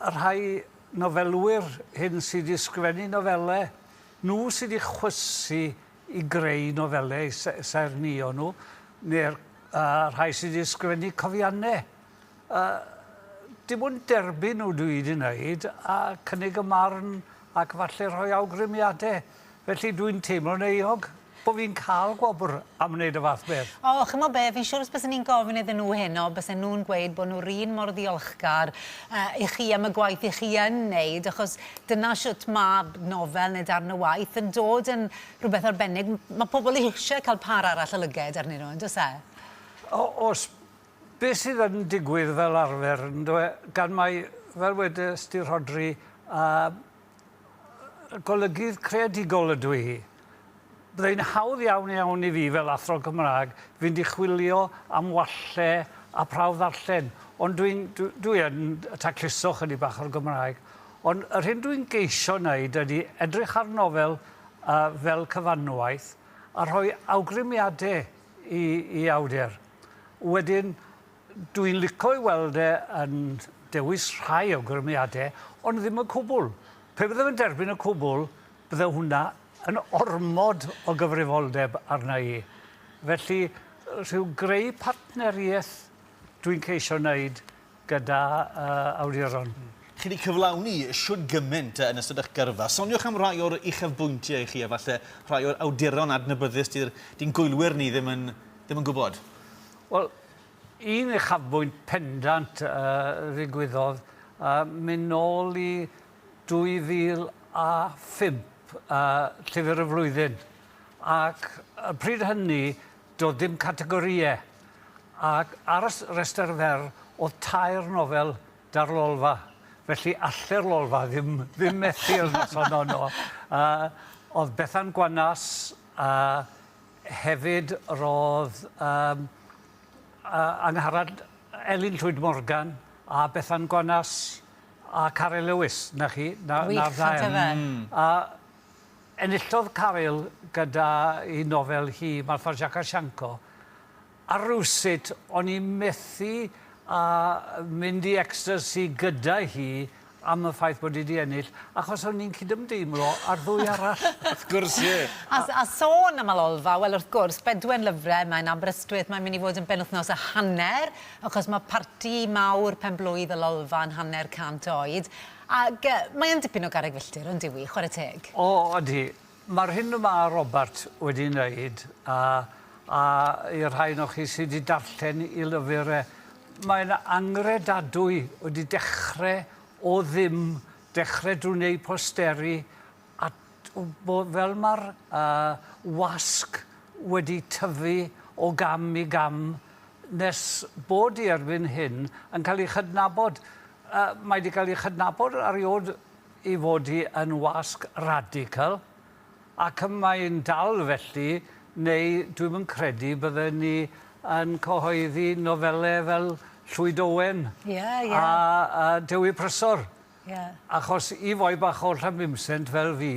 Y rhai nofelwyr hyn sy' 'di sgwennu nofele, nhw sy' 'di chwysu i greu nofele eu s- saernïo nhw, neu'r yy rhai sy' 'di sgwennu cofianne. Yy dim ond derbyn nhw dwi 'di wneud a cynnig y marn ac falle rhoi awgrymiade. Felly dwi'n teimlo'n euog bo' fi'n ca'l gwobr am wneud y fath beth. O, ch'mo' be', fi'n siŵr os bysen i'n gofyn iddyn nhw heno, bysen nhw'n gweud bo' nhw'r un mor ddiolchgar yy i chi am y gwaith 'ych chi yn neud, achos dyna shwt ma' nofel neu darn o waith yn dod yn rhywbeth arbennig. M- ma' pobl eisie cael pâr arall o lyged arnyn nhw, yndos e? O- o's. Be' sydd yn digwydd fel arfer, yndyw e, gan mai, fel wedes di, Rhodri, yy golygydd creadigol ydw i. Byddai'n hawdd iawn iawn i fi fel athro Cymraeg fynd i chwilio am walle a prawf ddarllen, ond dwi'n, dwi, dwi yn tacluso chydig bach o'r Gymraeg. Ond yr hyn dwi'n geisio wneud ydy edrych ar nofel uh, fel cyfanwaith a rhoi awgrymiadau i, i awdur. Wedyn, Dwi'n lico ei weld e yn dewis rhai awgrymiadau, ond ddim y cwbl. Pe bydde fe'n derbyn y cwbl, bydde hwnna yn ormod o gyfrifoldeb arna i. Felly, rhyw greu partneriaeth dwi'n ceisio wneud gyda uh, awduron. Mm chi wedi cyflawni siwr gymaint yn ystod eich gyrfa. Soniwch am rai o'r uchafbwyntiau i chi, a falle rhai o'r awduron adnabyddus di'n gwylwyr ni ddim yn, ddim yn gwybod. Wel, un uchafbwynt pendant a ddigwyddodd, a mynd nôl i 2005, a Llyfr y Flwyddyn, ac y pryd hynny doedd dim categorïau, ac ar y rhestr fer oedd tair nofel da'r Lolfa, felly allai'r Lolfa ddim ddim methu'r noson honno. Oedd Bethan Gwanas a Hefyd roedd um, uh, Angharad Elin Llwyd Morgan a Bethan Gwanas a Caryl Lewis, na chi? Na, Wych, na'r ddau. Mm. A enillodd Caryl gyda i nofel hi, Marfa Jaka Sianco, A rywsut o'n i methu â mynd i ecstacy gyda hi am y ffaith bod hi 'di ennill, achos o'n i'n cydymdeimlo â'r ddwy arall. Wrth gwrs, ie. A, a sôn am Alolfa, wel wrth gwrs, Bedwen Lyfre, mae'n Aberystwyth, mae'n mynd i fod yn benwythnos a hanner, achos mae parti mawr pen-blwydd Alolfa yn hanner cant oed, ac yy, mae yn dipyn o garreg filltir, on'd yw 'i, chware teg? O, odi. Mae'r hyn y mae Robert wedi wneud, a, a i'r rhai ohonoch chi sydd wedi darllen i lyfr e, mae'n angredadwy, wedi dechrau o ddim, dechrau drwy wneud posteri, a fel mae'r uh, wasg wedi tyfu o gam i gam, nes bod i erbyn hyn yn cael ei chydnabod. Uh, mae wedi cael ei chydnabod ar ei ôl i fod hi yn wasg radical ac y mae'n dal felly neu dwi'm yn credu bydden ni yn cyhoeddi nofele fel Llwyd Owen... Ie ie. ...a a Dewi Prysor. Ie. Achos i foi bach o Llanbimsent fel fi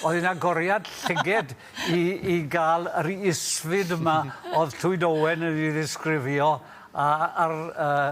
oedd hi'n agoriad llyged i i ga'l yr isfyd yma o'dd Llwyd Owen yn 'i ddisgrifio a a'r yy